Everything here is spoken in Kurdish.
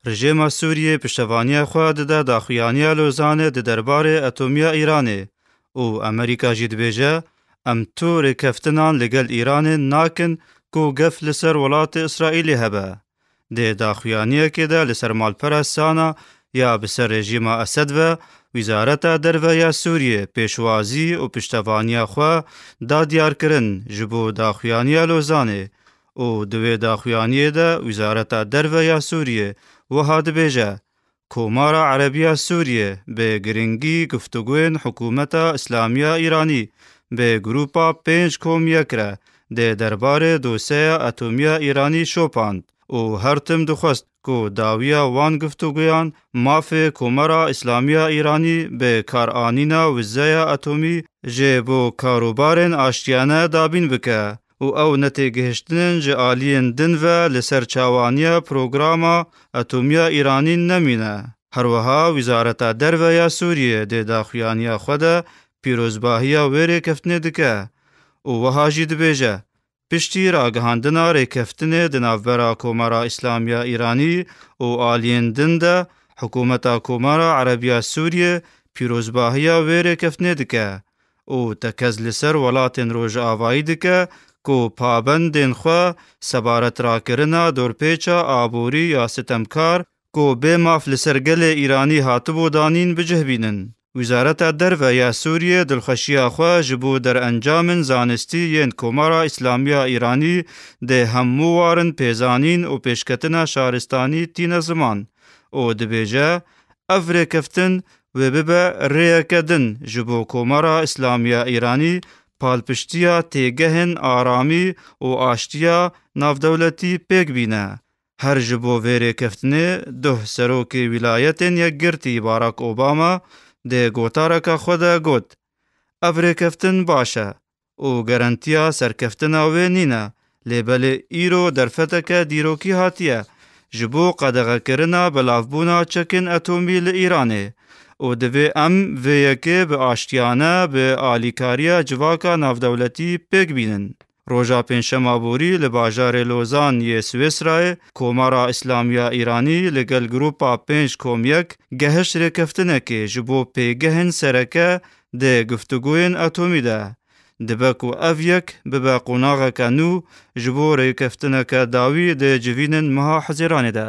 Rejêma Sûriyê piştevaniya xwe dide daxuyaniya Lozanê di derbarê etomiya Îranê û Amerîka jî dibêje, Em tu rêkeftinan li gel Îranê nakin ku gef li ser welatê Îsraîlê hebe. Dê daxuyaniyekê de li ser malpera Sana ya bi ser rejîma Esed ve, Wîzareta Derve ya Sûriyê pêşwazî û piştevaniya xwe da diyarkirin ji bo daxuyaniya Lozanê û di wê daxuyaniyê de Wizareta Derve ya Sûriyê wiha dibêje, Komara Erebiya Sûriyê bi girîngî guftugoyên Hikûmeta Îslamiya Îranî bi grûpa pênc komiyek re dê derbarê doseya etomiya Îranî şopand û her tim dixwest ku dawiya wan guftugoyan mafê Komara Îslamiya Îranî bi karanîna wizeya etomî jê bo karûbarên aştiyane dabîn bike. û ew netêgihiştinên ji aliyên din ve li ser çawaniya programa etomiya Îranîn nemîne. Herweha Wizareta Derve ya Sûriyê dê daxuyaniya xwe de pîrozbahiya wê rêkeftinê dike û wiha jî dibêje, Piştî ragihandina rêkeftinê di navbera Komara Îslamiya Îranî û aliyên din de Hikûmeta Komara Erebiya Sûriyê pîrozbahiya wê rêkeftinê dike û tekez li ser welatên rojavayî dike ku pabendên xwe sebaret rakirina dorpêça aborî ya sitemkar ku bê maf li ser gelê Îranî hatibû danîn bi cih bînin. Wizareta Derve ya Sûriyê dilxweşiya xwe ji bo derencamên zanistî yên Komara Îslamî ya Îranî dê hemû warin pêzanîn û pêşketina şaristanî tîne ziman û dibêje, Ev rêkeftin wê bibe rêyeke din ji bo Komara Îslamî ya Îranî palpiştiya têgehên aramî û aştiya navdewletî pêk bîne. Her ji bo vê rêkeftinê duh Serokê Wîlayetên Yekgirtî Barak Obama dê gotareke xwe de got, Ev rêkeftin baş e. û garantiya serkeftina wê nîne, lê belê îro derfeteke dîrokî hatiye ji bo qedexekirina belavbûna çekên etomî li Îranê û divê em vê yekê bi aştiyane bi alîkariya civaka navdewletî pêk bînin. Roja pêncşema borî li bajarê Lozan yê Swêsrayê Komara Îslamiya Îranî li gel grûpa pênc komyek gehişt rêkeftinekê ji bo pêgehên sereke Di guftûgûyên atomî de dibe ku ev yek bibe qonaxeke nû ji bo rêkeftineke dawî di civînên meha Hizêranê de.